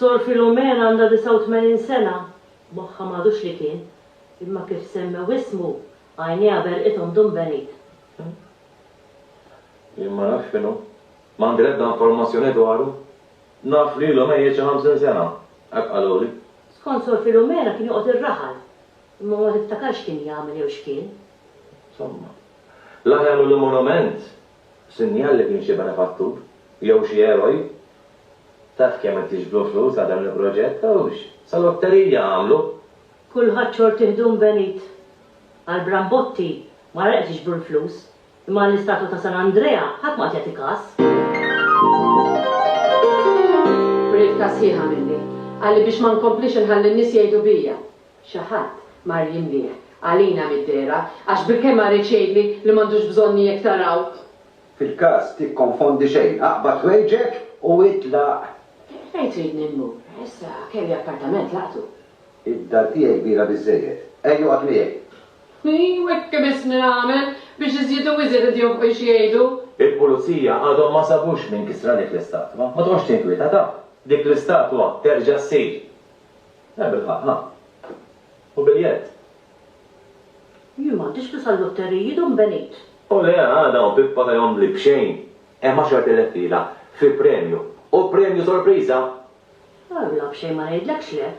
Sor Filumena għandha 89 sena, moħħha m'għadux li kien, imma kif semmew ismu, għajnejha berqithom Dun Benit. Jien ma nafx x'inhu. M'għandi l-ebda informazzjoni dwaru. Naf li ilu mejjet xi ħamsin sena, hekk qaluli. Skont Sor Filumena kien joqgħod ir-raħal, imma ma niftakar x'kien jagħmel jew x'kien. Somma. L-aħjar millu monument, sinjal li kien xi benefattur, jew xi eroj. Taf kemm qed jiġbru flus għal dan il-proġett, hux! Sa lotterija għamlu! Kulħadd xorti ħdum benit. Għall-brambotti ma reqgħet jiġbru l-flus, Imma għall-istatwa ta' San Andrea ħadd m'qagħad jagħti kas. B'riqqa sħiħa minni, qalli biex ma nkomplix inħalli n-nies jgħidu bija. Xi ħadd mar jinbieh għalina mid-dehra għax bilkemm ma riedx jgħidli li m'għandux bżonni jekk taraw. Fil-każ tikkonfondi xejn, aqbad ħwejġek u itlaq. Fejn tridni mmur? Issa kelli appartament laqtu. Id-dar tiegħi kbira biżżejjed. Ejja oqgħod miegħi. Ejju hekk kemm isni nagħmel, biex iżjed u iżjed id-djuffi xi jgħidu. Il-pulizija għadhom ma sabux min kisra dik l-istatwa. Ma toqgħodx tinkwieta taf. Dik l-istatwa terġa' ssir. Le bil-ħaqq, ha? U biljett? Jien m'għandix flus għal-lutteriji, Dun Benit. O le, għada hawn pippa ta' jom bli b'xejn. Hemm għaxart elef lira fi premju. U premju sorpriża! Alla b'xejn ma ngħidlekx le!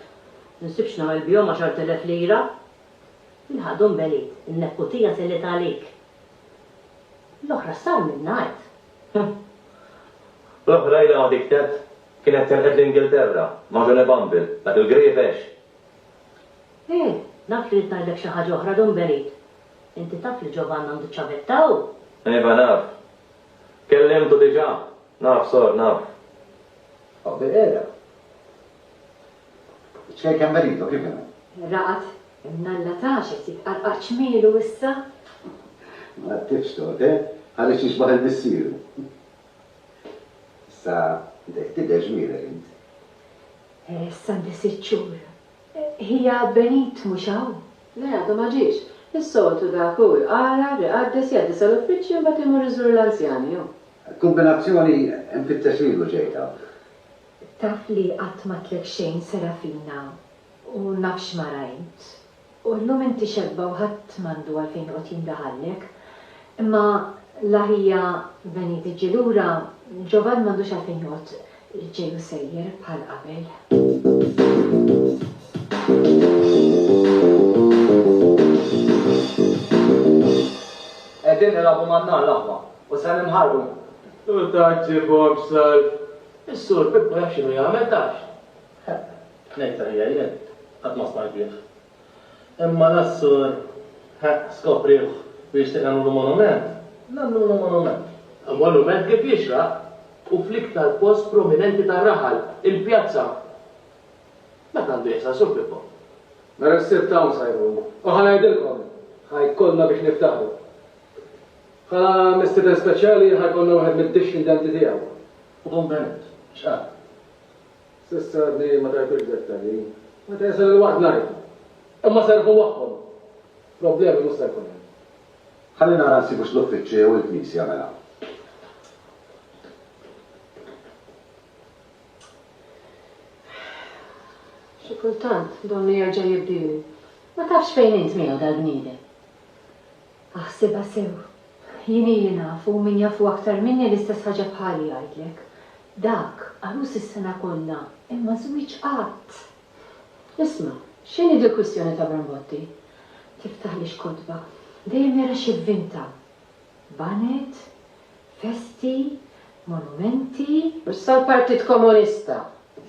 Ma nsibx nagħmel bihom għaxart elef lira! Ilħaq Dun Benit, in-nepputija telgħet għalik! L-oħra sar minnha għedt! L-oħra ilha ma tiktet, kienet telqet l-Ingilterra, ma' Johnny Bumble, dak il-grievexx! Eh, naf li ridt ngħidlek xi ħaġa oħra, Dun Benit! Inti taf li Ġovann għandu ċ-ċavetta hawn? Iva naf. Kellimtu diġà. Naf, sor, naf. Obbe qiegħda. Iċ-ċkejk hemm beridu, kif inhu? Raqad, imnalla tax qed jitqarqar ċmielu issa. Ma għaddifx tort, eh? Ħareġ jixbaħ il missieru. Issa dejh tidher ġmielek int. Eh, issa għandi sitt xhur. Hija Benit mhux hawn? Le, għadu ma ġiex. Is-soltu dak hu jqara, riqaddes, jgħaddi sal-uffiċċju mbagħad imur iżur l-anzjani hu. Kombinazzjoni nfittex lilu ġejtha. Taf li qatt m'għadtlek xejn Serafina u naf x'ma rajt. U llum inti xebba u ħadd m'għandu għalfejn joqgħod jindaħallek. Imma la hija venit ġġi lura, Ġovann m'għandux għalfejn joqgħod Il-ġej hu sejjer bħal qabel. Qegħdin nilagħbu man-nar l-aħwa u se ninħarqu. U ta' ġġibhomx salv. Is-Sur Pippo jaf x'inhu jagħmel, tafx? Ngħidlek ħija jien, qatt ma smajt bih. Imma l-Assur, ħa, skoprieħ u jixtieq nagħmlulu monument, nagħmlulu monument. Monument kif jixraq u fl-iktar post prominenti tar-raħal, il-pjazza. Dak għandu jeħsar, Sur Pippo. Mela s-Sibt hawn sa jkun. U ħa ngħidilkom, ħa jkollna biex niftaħru. Ħa mistieden speċjali ħa jkollna wieħed mid-dixxindenti tiegħu. U Dun Benit, x'qal? S'issa għadni ma tajtux dettalji. Meta jasal il-waqt ngħidlek. Imma serrħu magħhom. Problemi mhux se jkun hemm. Ħalli nara nsibux l-uffiċċju jew il-knisja mela. Xi kultant donnu jerġa' jibdielu. Ma tafx fejn int miegħu dal-bniedem. Aħsibha sew. Jien ili naf u min jafu aktar minni l-istess ħaġa bħali jgħidlek. Dak, għarus is-sena kollha, imma żwieġ qatt! Isma', x'inhi dil-kwistjoni ta' Brambotti? Tiftaħlix kotba. Dejjem jara xi vvinta. Baned, festi, monumenti. Issa l-Partit Komunista,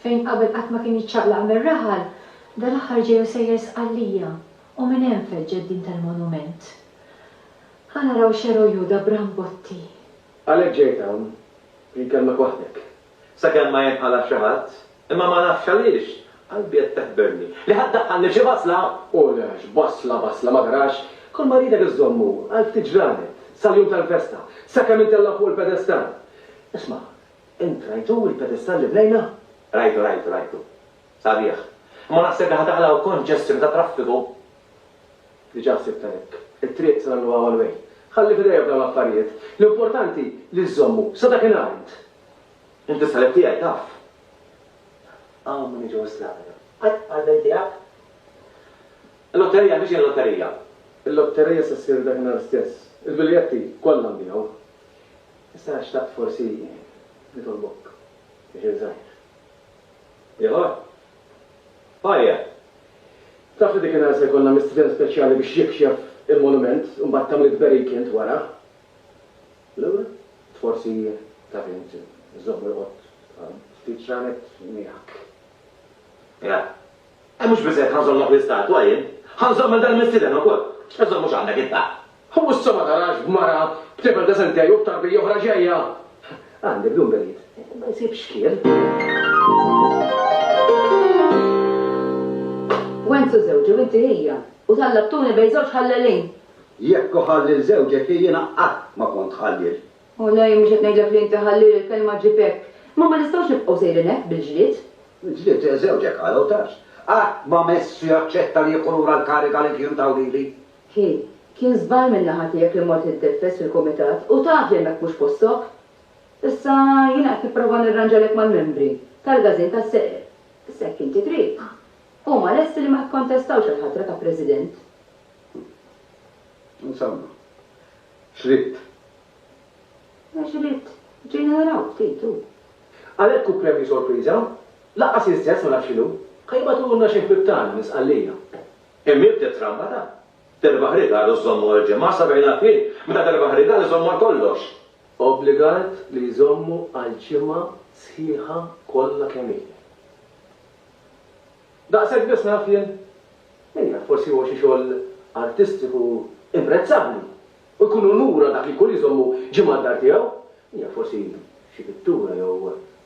fejn qabel qatt ma kien jiċċaqlaq mir-raħal, dal-aħħar ġej u sejjer Sqallija, u minn hemm feġġet din tal-monument. Ħa naraw x'eroju da Brambotti! Għalhekk ġejt hawn biex nkellmek waħdek. Sakemm ma jinqala' xi ħadd, imma ma nafx għaliex, qalbi qed teħberni, li ħa ddaħħalni xi basla! U le għax basla, basla ma tarax, kull ma rridek iżżommu għal ftit ġranet, sal-jum tal-festa, sakemm intella' fuq il-pedestall. Isma', int rajtu l-pedestall li bnejna? Rajtu, rajtu, rajtu. Sabiħ. Imma naħseb li ħa taħla' u konġestjoni tat-traffiku. Diġà sibtha hekk. It-triq se nagħmluha one way. Ħalli f'idejja f'dawn l-affarijiet. L-importanti li żżommu, sa dakinhar int. Int is-salib tiegħi, taf. Hawn min iġu s-slabra. Qatt bħall-belt tiegħek? Il-lotterija għandha x'inhi l-lotterija? Il-lotterija se ssir dakinhar stess. Il-biljetti kollha nbiegħu. Issa xtaqt forsi nitolbok biex inżajr. Ieħor? Hi Ann. Taf li dik in-nhar se jkollna mistrien speċjali biex jikxef il-monument u mbagħad tagħmli tberik int wara. Laura. Forsi taf int żomm irqod għal ftit ġranet miegħek. Hi Ann. Mhux biżżejjed ħa nżommok l-istatwa jien. Ħa nżomm lil dan il-mistieden ukoll. X'ħa nżomm mhux għandek int ha? Hu issa ma tarax b'mara, b'tifel deċenti tiegħi u b'tarbija oħra ġejja? Għandi bdun berid. Ma jsibx xkiel. Wenzu żewġi u inti hija, u tallabtuni bejn żewġ ħallelin. Jekk hu ħalliel żewġek hi jiena qatt ma kont ħalliel. O le, jien mhux qed ngħidlek li inti ħalliel, il-kelma ġġib hekk. Imma ma nistgħux nibqgħu sejrin hekk bil-ġlied. Il-ġlied? Żewġek għala u tarx. Qatt ma mess jaċċetta li jieħu lura l-kariga li kien taw lili. Hi, kien żball minn naħa tiegħek li mort nitneffes fil-kumitat u taf li hemmhekk mhux postok. Issa jiena qed nipprova nirranġalek mal-membri tal-gazin tas-seqer, issa jekk inti trid, huma lesti li ma jikkontestawx għall-ħatra ta' President. Insomma, x'ridt? Għax ridt, ġejna naraw ftit, hu. Għalhekk hu premju sorpriża? Lanqas iż-żezz ma naf x'inhu. Ħa jibagħtulna xi ħbieb tagħna minn Sqallija. Immiet it-trampa ta' Derbaħ Rigal u żomm għal ġimgħa, sabejna f'ħin meta Derbaħ Rigal iżomm għal kollox. Obbligat li jżommu għal ġimgħa sħiħa kollha kemm hi. Daqshekk biss naf jien? Min jaf, forsi huwa xi xogħol artistiku imprezzabbli u jkun unur għal dak li jkun li jżommu ġimgħa d-dar tiegħu. Min jaf, forsi xi pittura jew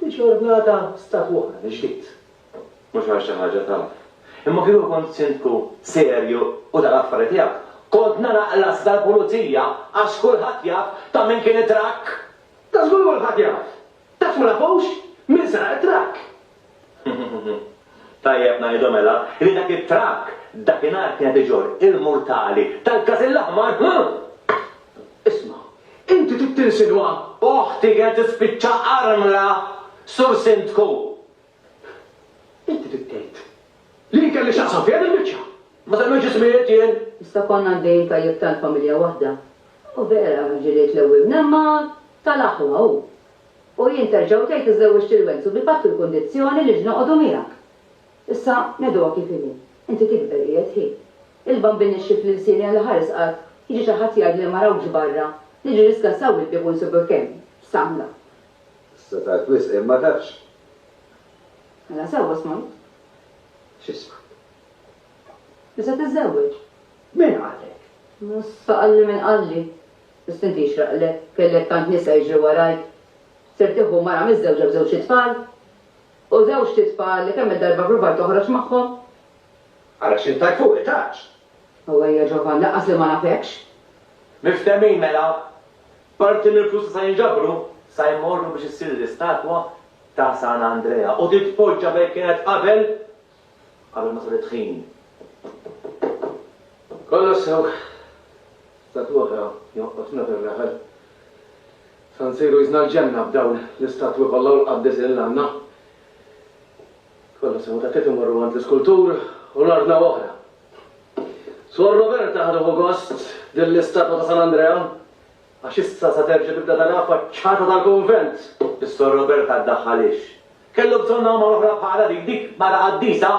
Tiġi ordnata statwona mill-ġdid. Mhux għal xi ħaġa taf. Imma kieku kont Sindku serju u ta' l-affari tiegħek, kont nagħlaq l-assi tal-pulizija għax kulħadd jaf ta' min kien it-trakk! Ta' żgur kulħadd jaf! Taf ma nafux min saraq it-trakk! Tajjeb ngħidu mela li dak it-trakk dakinhar kien qed iġorr il-murtali tal-Każin l-Aħmar, hu! Isma', inti trid tinsinwa? Oħti kienet tispiċċa armla, Sur Sindku! Inti trid tgħid li jien kelli x'naqsam fiha din il-biċċa? Ma semmejtx ismijiet jien! Iżda konna għaddejjin tajjeb tant familja waħda. U vera, ġilied l-ewwel mnemma tal-aħwa, hu! U jien terġa' u tgħid li żżewwiġt lil Wenzu bil-patt u l-kundizzjoni li x'noqogħdu miegħek. Issa, ngħiduha kif inhi, inti tikber qiegħed hi. Il-Bambin ixxief lil lsieni għal iħares qatt jiġi xi ħadd jgħidli li ma rawkx barra, niġi niskassa u il-bieb u nsibuk hemm. X'tagħmla? Issa tard wisq imma tafx. Mela sewwa smajt. X'ismajt? Li se tiżżewweġ. Min qalek? Issa qalli min qalli. Biss inti jixraqlek, kellek tant nisa jiġri warajk. Ser tieħu mara miżżewġa b'żewġ itfal? U żewġt itfal li kemm-il darba ppruvajt toħroġ magħhom? Ara x'int tajt fuqi, taċ! U ejja Ġovann, lanqas li ma nafekx! Miftehmin mela! Parti mill-flus li sa jinġabru, sa jmorru biex issir l-istatwa ta' San Andrea u titpoġġa fejn kienet qabel! Qabel ma sar it-tħin. Kollox sew. Stat l-oħra joqgħodna fir-raħal. Sa nsiru qisna l-ġenna b'dawn l-istatwi kollha u l-qaddisin li għandna. Kollox sew, tat-tliet imorru għand l-iskultur u nordnaw oħra. Suor Roberta ħa tieħu gost din l-istatwa ta' San Andrea għax issa sa terġa' tibda taraha faċċata tal-kunvent. Is-Sor Roberta ddaħħal ix. Kellu bżonn għama oħra bħala dik, dik mara qaddisa?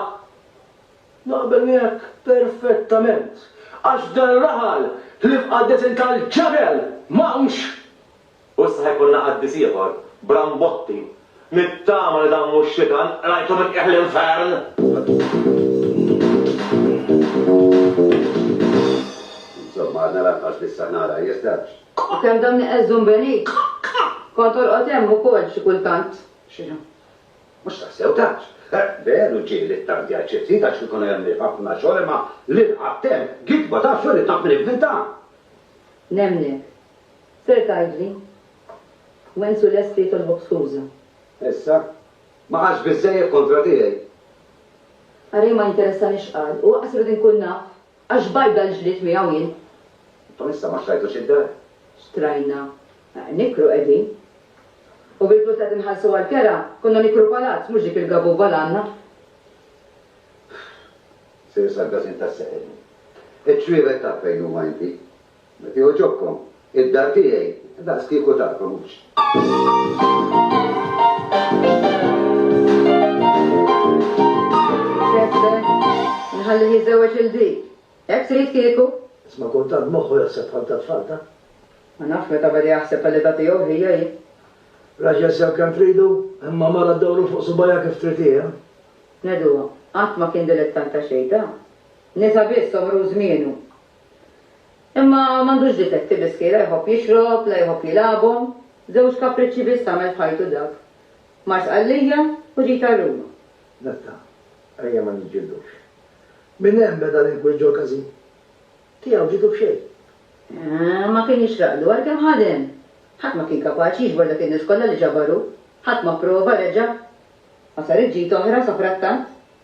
Naqbel miegħek perfettament, għax f'dan ir-raħal ħlief qaddisin tal-ġebel m'hawnx! U issa ħa jkollna qaddis ieħor, Brambotti. Nittama li dan mhux xitan qrajtu minn qiegħ l-infern! Insomma, għadna lanqas li s-saħħna għalha jeżdax. Qa! Kemm dan iqeżżu nbeni! Qa! Qa! Kont torqod hemm ukoll xi kultant? X'inhu? Mhux tassew tard? Veru ġieli t-tardi għal xi ftit għax kikun għemliet ħafna xogħol imma l-irqad temm, gidba ta' xogħol li tant min ivvinta! Nemmnek. Ser tgħidli? Wenzu lest li jitolbok skuża. Issa? Ma qalx biżżejjed kontra tiegħi? Ara jien ma jinteressani x'qal u aqas irid inkun naf Għax bajda l-ġlied miegħu jien. Intom issa ma xtrajtux id-dar? Xtrajna. Nikru qegħdin. U bil-flus li qed inħallsu għall-kera, konna nikru palazz, mhux dik il-gabuba l-għandna. Sejr sal-każin tas-seħel. Iċ-ċwievet taf fejn huma inti. Jekk jogħġobkom, id-dar tiegħi daqskieku darkom, hux? Nħallih jiżżewweġ lil dik. Hekk trid kieku? Isma' kultant moħħu jaħseb bħal tat-tfal, ta? Ma nafx meta beda jaħseb għall-età tiegħu ħija hi. Raġel sew kemm tridu, imma mara ddawru fuq subgħajha kif trid hi, ha? Nedu qatt ma kien dilettant ta' xejn, ta? Nisa biss għomru u żmienu. Imma m'għandux difetti Bisky, la jħobb jixrob, la jħobb jilagħabhom. Żewġ kapriċċi biss għamel f'ħajtu dak. Mar Sqallija u ġie jtar Ruma. Natta, ejja ma niġġildux. Minn hemm beda l-inkwiet ġol-każin. Tiegħu ġietu b'xejn. Eeh, ma kien jixraqlu għalkemm ħadem. Ħadd ma kien kapaċi jiġbor dak in-nies kollha li ġabar hu. Ħadd ma pprova, reġa'. Ma saret ġid oħra safrattant.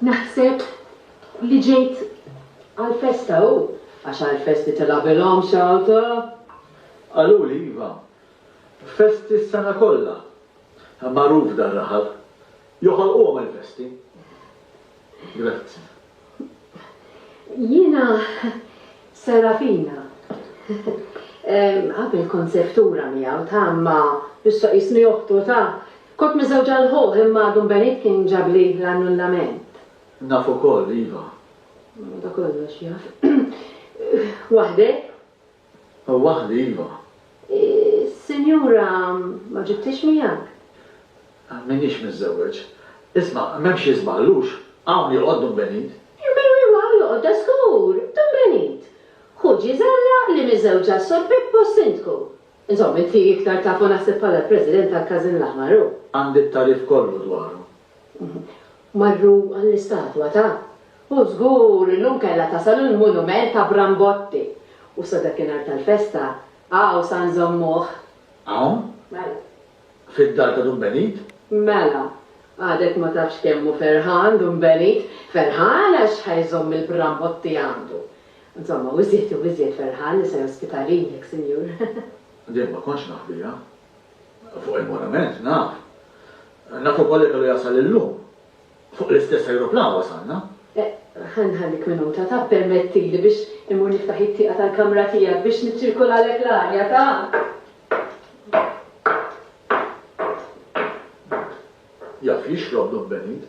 Naħseb li ġejt għall-festa u għax għall-festi tilgħabilhom xi awto? Qaluli iva. Festi s-sena kollha. Magħruf dar-raħal. Joħolquhom il-festi. Grazzi. Jiena Serafina. Qabel kont seftura miegħu ta' imma issa qisni oħtu ta'. Kont miżewġa l ħuh imma għadu nbeniet kien ġabli l-annullament. Naf ukoll, iva. Madankollox jaf. Waħdek? Hawn waħda, iva. Is-sinjura ma ġibthiex miegħek? M'iniex miżżewweġ. Isma', m'hemm xi żball, hux? Hawn joqgħod Dun Benit. Iva, iva, iva, hawn joqgħod, dażgur, Dun Benit. Ħu Ġiżella li miżżewġa s-Sur Pippo s-Sindku. Insomma, inti iktar tafu naħseb bħala l-President tal-Każin l-Aħmar, hu? Għandi t-tagħrif kollu dwaru. Marru għall-istatwa ta' U żgur illum kellha tasal il-monument ta' Brambotti! U sa dakinhar tal-festa hawn sa nżommuh. Hawn? Mela. Fid-dar ta' Dun Benit? Mela. Għadek ma tafx kemm hu ferħan Dun Benit. Ferħan għax ħa jżomm il-Brambotti għandu. Insomma, hu iżjed u iżjed ferħan li se jospita lilek, Sinjur. Din ma kontx naħbiha. Fuq il-monument, naf. Naf ukoll li kellu jasal illum. Fuq l-istess ajruplan wasalna. Ħa nħallik minuta, ta ppermettili biex immur niftaħ it-tieqa tal-kamra tiegħek biex niċċirkolalek l-arja, ta? Jaf jixrob Dun Benit.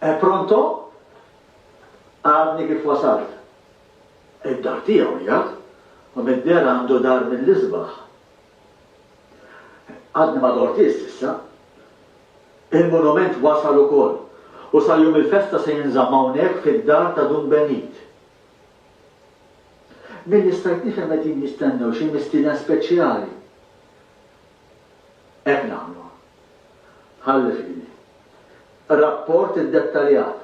E eh, pronto? Għadni kif wasalt. Id-dar tiegħu jgħad, u mid-dera għandu dar mill-isbaħ. Għadni ma dortis issa. Il-monument wasal ukoll u sal-jum il-festa se jinżammawnek fid-dar ta' Dun Benit. Milli stajt nifhem qegħdin jistennew xi mistieden speċjali. Hekk nagħmlu. Ħalli f'idni. Rapport iddettaljat.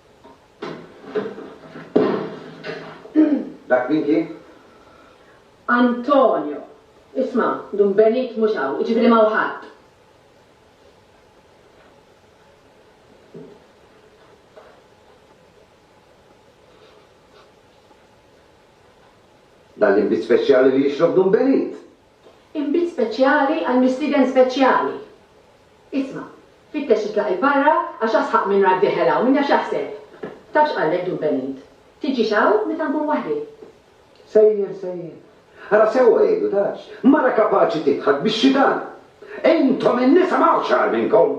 Dak min kien? Antonio. Isma', Dun Benit mhux hawn, jiġifieri ma hawn ħadd. Dan l-inbid speċjali li jixrob Dun Benit. Inbid speċjali għal mistieden speċjali. Isma', fittex titlaq 'il barra għax asħaq minn rak deħel hawn, min jaf x'jaħseb? Taf x'qallek Dun Benit? Tiġix hawn meta nkun waħdi. Sejjer, sejjer. Ara sewwa jgħidu, tafx? Mara kapaċi tidħak bix-xitan. Intom in-nisa m'hawnx agħar minnkom.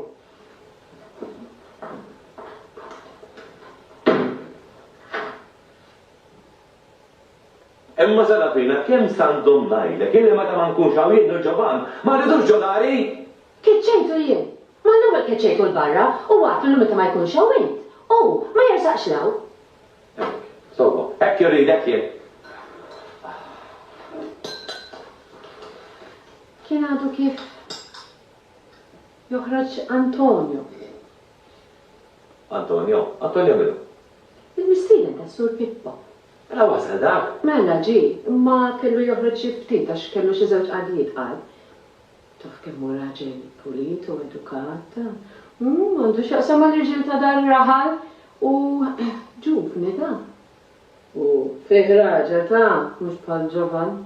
Imma sara fina kemm sa nżomm ngħidlek illi meta ma nkunx hawn jien nirġa' b'għand, ma rridux ġo dari! Keċċejtu jien! Ma l-ewwel keċċejtu 'l barra u għadt lillu meta ma jkunx hawn int, hu, ma jersaqx 'l hawn! Hekk, sewwa, hekk irrid, hekk jien! Kien għadu kif joħroġ Antonio. Antonio? Antonio minhu? Il-mistieden tas-Sur Pippo. Mela wasal dak? Mela ġie, imma kellu joħroġ xi ftit għax kellu xi żewġ qagħdijiet, qal. Taf kemm hu raġel pulit u edukat. Għandu x'jaqsam mal-irġiel ta' dan ir-raħal. U ġuvni da. U fih raġel ta', mhux bħal Ġovan.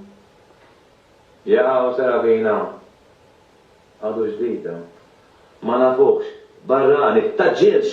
Jaha u Serafina? Għadu ġdid da. Ma nafuhx. Barrani. Ta' ġilx!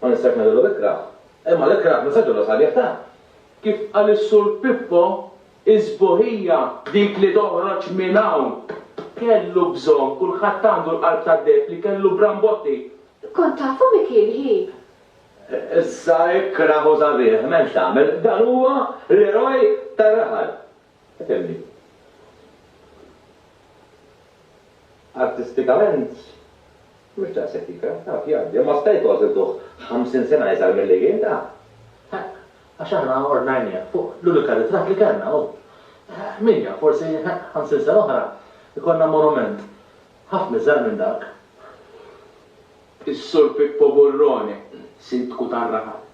Ma nistax ngħidillu l-ikrah, imma l-ikrah nista' ngħidillu sabiħ ta'. Kif qal is-Sur Pippo, is-sbuħija dik li toħroġ minn hawn. Kellu bżonn, kulħadd għandu l-qalb tad-deheb li kellu Brambotti. Kont tafu min kien hi? Issa ikrah u sabiħ, m'hemmx tagħmel, dan huwa l-eroj tar-raħal. Itemmi. Artistikament mhux daqshekk ikrah, taf, jgħaddi, imma sta jkoll żiltuh ħamsin sena iżgħar milli kien, taf. Ħaqq, għax aħna ordnajnieh fuq l-unika ritratt li kellna, hu. Min jaf, forsi, ħaqq, ħamsin sena oħra jkollna monument ħafna iżgħar minn dak. Is-Sur Pippo Burrone, Sindku tar-Raħal.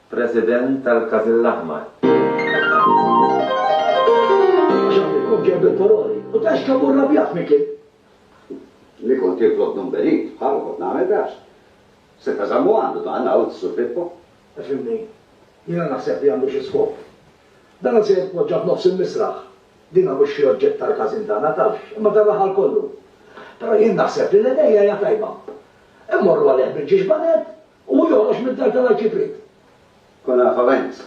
President tal-Każin l-Aħmar. Xaħt il-kok ġej bil-poroli u ta xkabu rrabjat minn kien. Li kont titlob dun Benit, bħalu kont nagħmel għax. Seta' żammu għandu dan, għawd is-Sur Pippo. Ifhimni, jiena naħseb li għandu xi skop. Dan se jitpoġġa f'nofs il-misraħ. Dina mhux xi oġġett tal-każin tagħna, tafx, imma tar-raħal kollu. Però jien naħseb li l-idea hija tajba. Immorru għalih bil-ġiġbanet U hu joħroġ mid-dar tal-Arċipriet. Konafament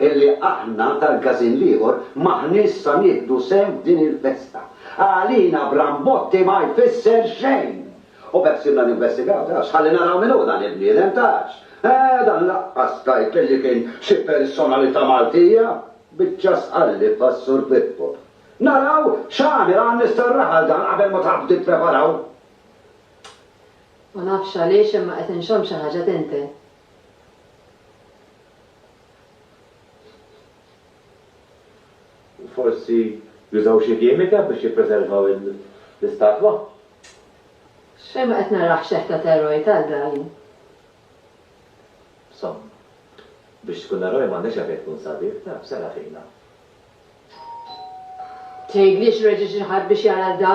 illi aħna tal-Każin l-Ieħor m'aħniex sa nieħdu sehem f'din il-festa. Għalina Brambotti ma jfisser xejn! U b'hekk sirna ninvestigaw, tafx, ħalli naraw min hu dan il-bniedem, tafx. Eeh, dan laqqas tgħid illi kien xi personalità Maltija! Biċċa sqallib għas-Sur Pippo. Naraw x'għamel għan-nies tar-raħal dan qabel ma tħabbtu tippreparaw! Ma nafx għaliex imma qed inxomm xi ħaġa tinten. Forsi jużaw xi kimika biex jippreservaw l-istatwa? X'fejn ma qed narah xeħ ta' teroj talga jien. Somma. Biex tkun eroj m'għandekx għalfejn tkun sabiħ, taf, serraħina. Tgħidlix reġa' xi ħadd biex jara da?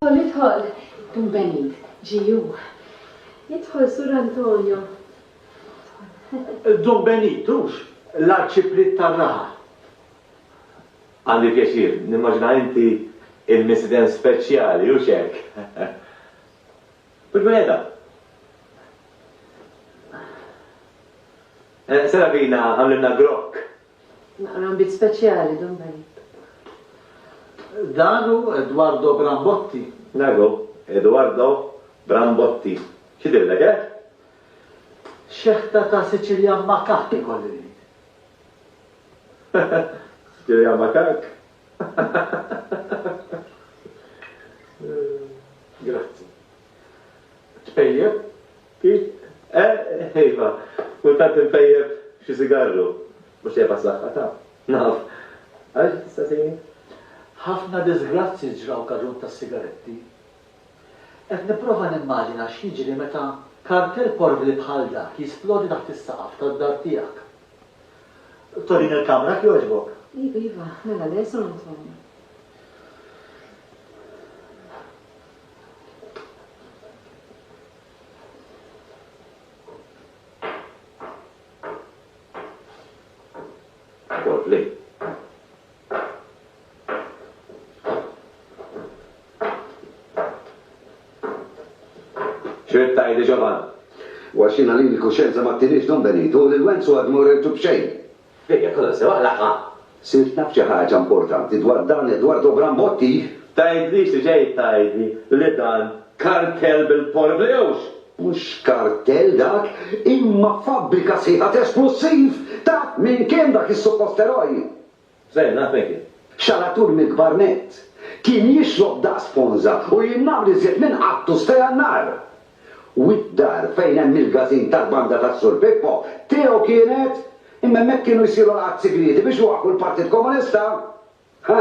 Idħol, idħol! Dun Benit, ġie hu. Idħol, Sur Antonio. Dun Benit, hux l-Arċipriet tar-Raha? Għandi l-pjaċir, nimmaġina inti l-mistieden speċjali, hux hekk? Bil-wegħda. Eh, Sara bina għamlilna grokk. Naqra bit speċjali dan bejn. Dago Eduardo Brambotti. Dago Eduardo Brambotti. Xidir dak, eh? Xeħta ta' Sicilian makak ikolli ngħid. Sicilian makak? Grazzi. Tpejjeb? Kif? Eh, iva, kultant npejjeb xi sigarru. Mhux tejjeb għas-saħħa ta' naf. Għaliex tista' sejni? Ħafna diżgrazzji ġraw kaġun tas-sigaretti. Qed nipprova nimmaġina x'jiġri meta kartell porvli bħal dak jisplodi taħt is-saqaf tad-dar tiegħek. Torina l-kamra jekk jogħġbok? Iva, iva, mela le, Sur Antonio. Porvli. X'ridt tgħidli Ġovann? U għax jiena lili l-kuxjenza ma ttiniex Don Benitu, lil Wenzu għad ma urejtu b'xejn. Ejja, kollha sew aqlagħha! Sirt naf xi ħaġa importanti dwar dan Edwardo Brambotti? Tgħidlix li ġejt tgħidli li dan kartell bil-porvliewx! Mhux kartell dak, imma fabbrika sħiħa t'esplussiv! Taf min kien dak is-suppost eroj? Żgħira Peggy. Xalatur mill-kbar nett. Kien jixrob daqs ponża u jinnamel iżjed minn qattu stejgħa n-nar. Wied d-dar fejn hemm il-każin tal-banda tas-Sur Pippo, tiegħu kienet, imma hemmhekk kienu jsiru laqgħat sigrieti biex iwaqqfu l-Partit Komunista. Ħa!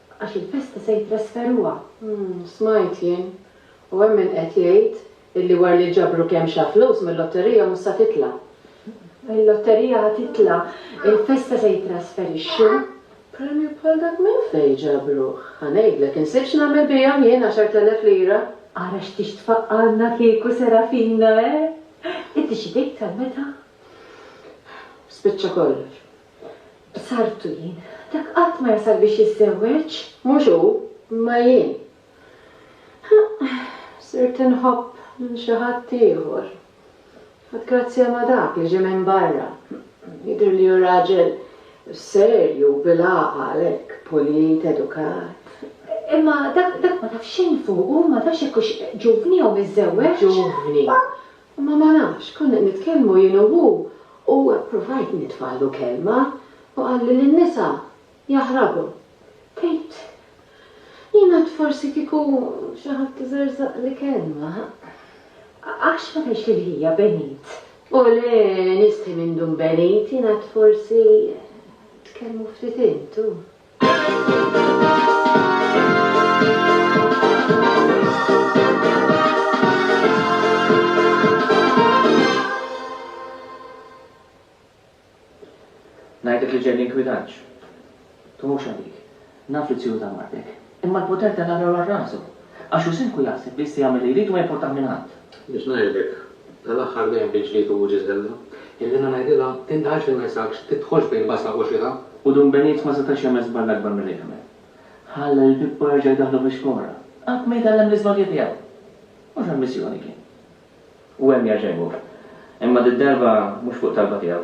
Għax il-festa se jitrasferuha. Umm, smajt jien. U hemm min qed jgħid illi wara li ġabru kemm xa flus mil-lotterija mhux sa titla'. Il-lotterija ħa titla', il-festa se jitrasferixxu. Premju bħal dak minn fejn ġabruh? Ħa ngħidlek, insibt x'nagħmel bihom jien, għaxart elef lira. Ara x'tix tfaqqgħalna kieku Serafina, eh? Inti xi tgħid sal-meta? Spiċċa kollox. B'sartu jien. Dak qatt ma jasal biex jiżżewweġ. Mhux hu, imma jien. Ħa, sirt inħobb lil xi ħadd ieħor. Ħadd grazzja ma' dak li ġie minn barra. Jidhirli hu raġel serju u bil-għaqal, hekk, pulit, edukat. Imma dak, dak ma taf xejn fuqu, ma tafx jekk hux ġuvni jew miżżewweġ. Ġuvni. Imma ma nafx, konna nitkellmu jien u hu u ppruvajt nitfagħlu kelma u qalli li n-nisa jaħrabu. Tgħid, jien għad forsi kieku xi ħadd iżerżaqli kelma, għax ma tgħidx lil ħija benit? O le, nistħi minn dun benit, jien għad forsi tkellmu ftit intu. Ngħidlek li ġej l-inkwidaġġ. Tħuxha dik. Naf li t-tjur ta' martek. Imma l-poter tellagħlu għal rasu. Għax hu sinku jaħseb biss jagħmel li jrid u ma jimportah minn ħadd. Biex ngħidlek, tal-aħħar dejjem bi ġlied u uġigħ żella, illi jiena ngħidilha, Indaħalx lil nrisakx, tidħolx bejn basaq u xita! U Dun Benit ma setax jagħmel żball akbar milli għamel. Ħalla lil Pippo jerġa' jdaħħlu fix-xkora. Qatt ma jitgħallem l-iżbalji tiegħu. Mhux għall-missjoni kien. U hemm jerġa' jmur. Imma did-darba mhux fuq talba tiegħu.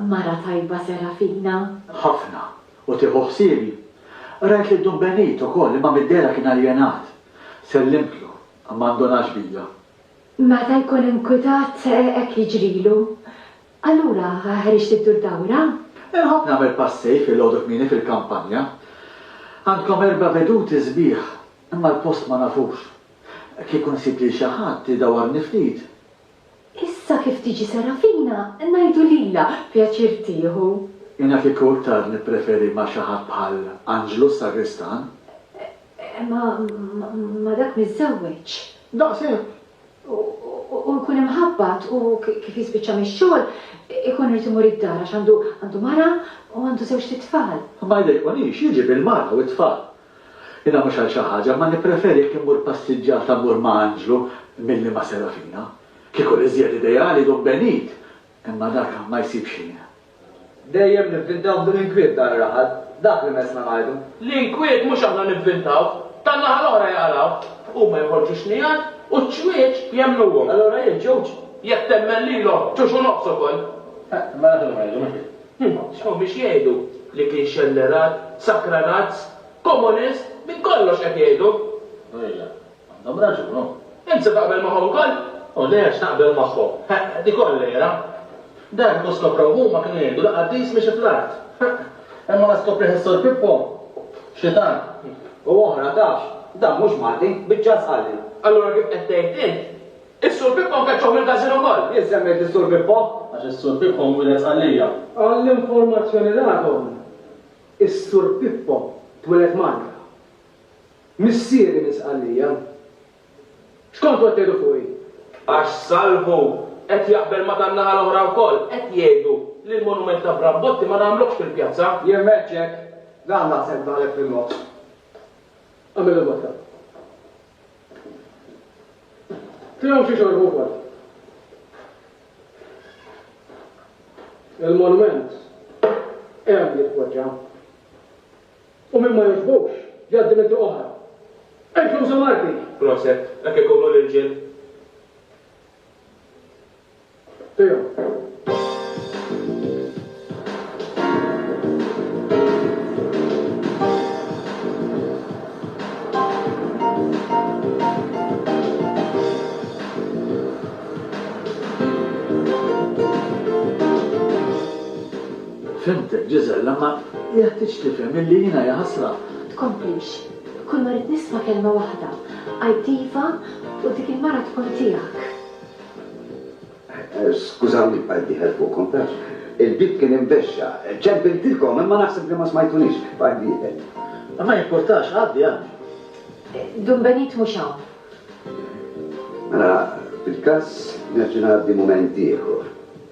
Mara tajba Serafina. Ħafna, u tieħu ħsiebi. Qrajt lil Dun Benit ukoll imma mid-dehra kien aljenat. Sellimtlu, imma ndunax bija. Meta jkun inkwitat hekk jiġrilu. Allura ħriġt iddur dawra? Inħobb nagħmel passej filgħodu kmieni fil-kampanja. Għandkom erba' veduti sbieħ, imma l-post ma nafux. Kieku nsib lil xi ħadd idawwarni ftit, Issa kif tiġi Serafina ngħidu lilha, pjaċir tieħu. Jiena kieku iktar nippreferi ma' xi ħadd bħal Anġlu s-sagristan. Eh, ma, ma' dak miżżewweġ. Daqshekk! U jkun imħabbat u kif jispiċċa mix-xogħol ikun irid imur id-dar għax għandu, għandu mara u għandu żewġt itfal. Ma jdejqunix, jiġi bil-mara u t-tfal. Jiena mhux għal xi ħaġa, imma nippreferi jekk immur passiġġata mmur ma' anġlu milli ma' serafina. Kieku l-iżjed ideali jdum benit, imma dak ma jsibx ħin. Dejjem nivvintaw b'dun inkwiet dan ir-raħal, dak li messna ngħidu. L-inkwiet mhux aħna nivvintawh, tan-naħa l-oħra jaqrawh. Huma jħorġu xnigħat u ċ-ċwieċ jemmnuhom. Allura jien ġewġ. Jekk temmen lilhom, ġewx u nofs ukoll. Imma dak li ngħidu, mhux hekk? Huma x'hawn biex jgħidu? Li kien xellerat, sakranazz, komunist, din kollox qed jgħidu! U ejja, għandhom raġun, hu! Int se taqbel magħhom ukoll? U le għax naqbel magħhom! Ħeqq, dik kollera! Dan kieku skoprew huma kienu jgħidu li qaddis miexi fl-art! Ħeqq! Imma la skoprih is-Sur Pippo, xitan, u oħra tafx, dan mhux Malti, biċċa żqalli! Allura kif qed tgħid int, Is-Sur Pippo nkeċċew mill-Każin ukoll! Jien semmejt lis-Sur Pippo għax is-Sur Pippo nwieled Sqallija. Għall-informazzjoni tagħkom, is-Sur Pippo twieled Malta. Missieri minn Sqallija. X'kontu qed tgħidu fuqi? Għax Salvu qed jaqbel ma' tan-naħa l-oħra wkoll, qed jgħidu li l-monument ta' Bram Botti ma nagħmluhx fil-pjazza. Jien m'għedtx hekk! Dan naħseb daħlek fil-moħħ. Agħmillu b'hekk. Tiegħu xi xorbu wkoll. Il-monument hemm jitpoġġa. U min ma jogħġbux jgħaddi minn triq oħra. Ejn flusu Marti! Proset, hekk ikunu l-irġiel. Fhimtek, Giselle, imma jeħtieġ tifhem illi jiena jaħasra. Tkomplix. Kull ma rrid nisma' kelma waħda, għid iva u dik il-mara tkun tiegħek. Skużawni bqajt dieħel fuqkom, taf. Il-bieb kien imbexxa. Ċempiltilkom, imma naħseb li ma smajtunix. Bqajt dieħel. Ma jimpurtax, għaddi, għaddi. Dun Benit mhux hawn. Mela, fil-każ nerġa' ngħaddi mument ieħor.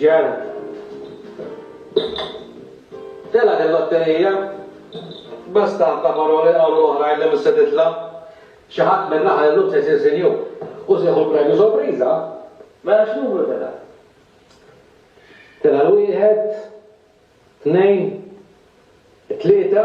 Ġew. Telgħet il-lotterija. Bla stamp ta' paroli qalu l-oħrajn li mhux se titla'. Xi ħadd min-naħa illum se jsir sinjur. U se jieħu l-premju sorpriża. Mela x'numru telgħa? Telgħa l-wieħed, tnejn, it-tlieta,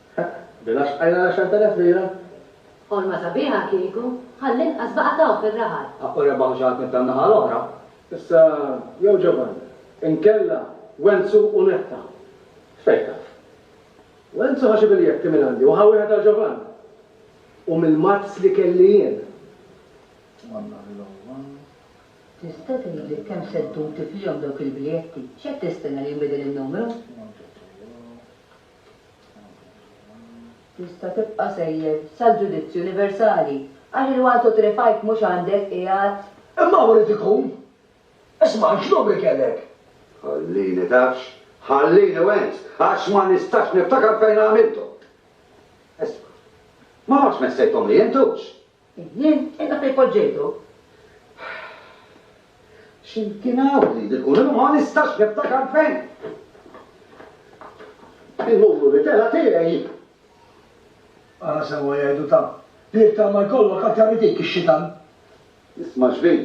Hekk, bina xqajna l-għexert elef lira. Ħolma sabiħa kieku, għall-inqas baqa' tawh fir-raħal. Ħaqqu rebaħ xi ħadd mit-tan-naħa l-oħra. Issa, jew Ġovanni, inkella Wenzu u Netta. Fejn taf. Wenzu ħa xi biljetti minn għandi u ħa wieħed għal Ġovanni. U mill-mazz li kelli jien. Monna l-logħba. Tista' tgħidli kemm se ddum tiflihom dawk il-biljetti? X'qed tistenna li jinbidel in-numru? Tista' tibqa' sejjer sal-ġudizzju universali, għax il-one two three five mhux għandek qiegħed. Imma hawn irid ikun! Isma' x'numri kellek? Ħallini tafx, ħallini wens, għax ma nistax niftakar fejn għamilthom. Isma', ma tafx messejthomli int hux? Jien qiegħda fejn poġġejtu. X'imkien hawn li jidhirqu li ma nistax niftakar fejn. Il-muru li tela' tiegħi. Ara sewwa jgħidu ta' Pirta ma jkollok aktar li tik ix-xitan. Isma' xbin,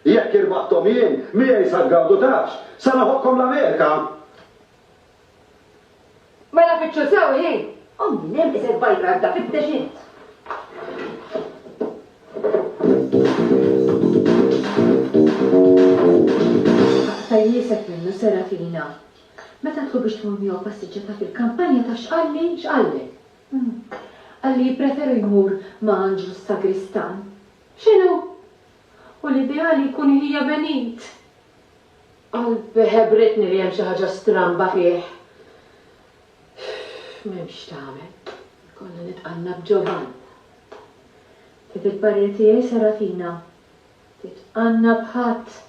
jekk irbaħthom jien, miegħi sa tgawdu tafx, sa neħokkom l-Amerika. Mela fittxu sew ħin! U minn hemm iżgħet bajt għadda fittex int. Aqta' jieset minnu Serafina. Meta għedtlu biex tmur miegħu passiġġata fil-kampanja tafx qalli? X'qallek? Qalli jippreferu jmur ma' Anġlu s-sagristan. X'inhu? U l-ideali jkun iħija Benit! Qalb ħebbritni li hemm xi ħaġa stramba fih. M'hemm x'tagħmel, ikollna nitqanna b'Ġovann. Fid il-parir tiegħi Serafina, titqanna b'ħadd.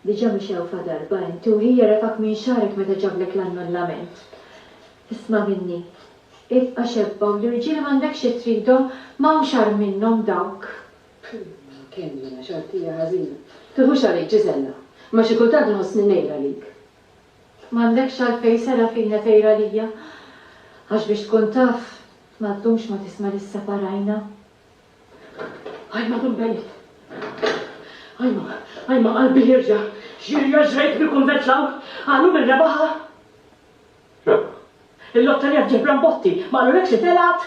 Diġà mixewfa darba inti u ħi jerefgħek minn xagħrek meta ġablek l-annullament. Isma' minni, ibqa' xebba u l-irġiel m'għandekx xi tridhom, m'hawnx agħar minnhom dawk. Kmnna, kemm jiena xortija ħażina. Tiħux għalik, Ġiżella, imma xi kultant nħossni ngħir għalik. M'għandekx għalfejn, Serafina, tgħir għalija. Għax biex tkun taf, ma ddumx ma tisma' li sseparajna. Ajma dum beniet. Ajma, ajma qalbi jirġa'. X'jirja' ġrejt bil-kunvent l-hawn? Qalu min rebaħha? Rebaħ? Il-lotterija f'Ġebranbotti, ma qalulekx li telgħet?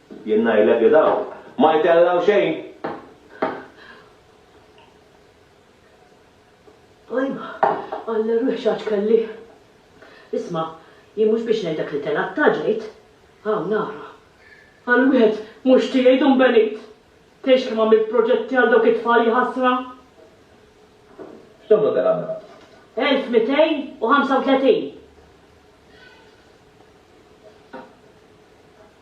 Jien ngħidlek li dawn ma jtellgħu xejn. Ajma, Alla ruħi x'għaġ kelli. Isma', jien mhux biex ngħidlek li telgħet ta' ġejt. Hawn nara. Għal wieħed mhux tiegħi dun benit. Tgħidx kemm għamilt proġetti għal dawk it-tfal jħassra. X'numru telgħa mela? 1235.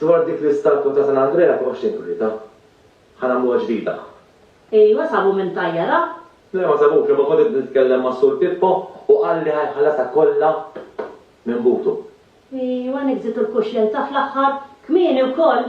Dwar dik l-istatwa ta' San Andrea m'hawnx xejn turietha. Ħa nagħmluha ġdida. Ejwa sabu min tajjarha? Le ma sabux imma kont qed nitkellem ma' Sur Pippo u qal li ħa jħallasha kollha minn butu. Ejwa niggżitu l-kuxjenza fl-aħħar. Kmieni wkoll!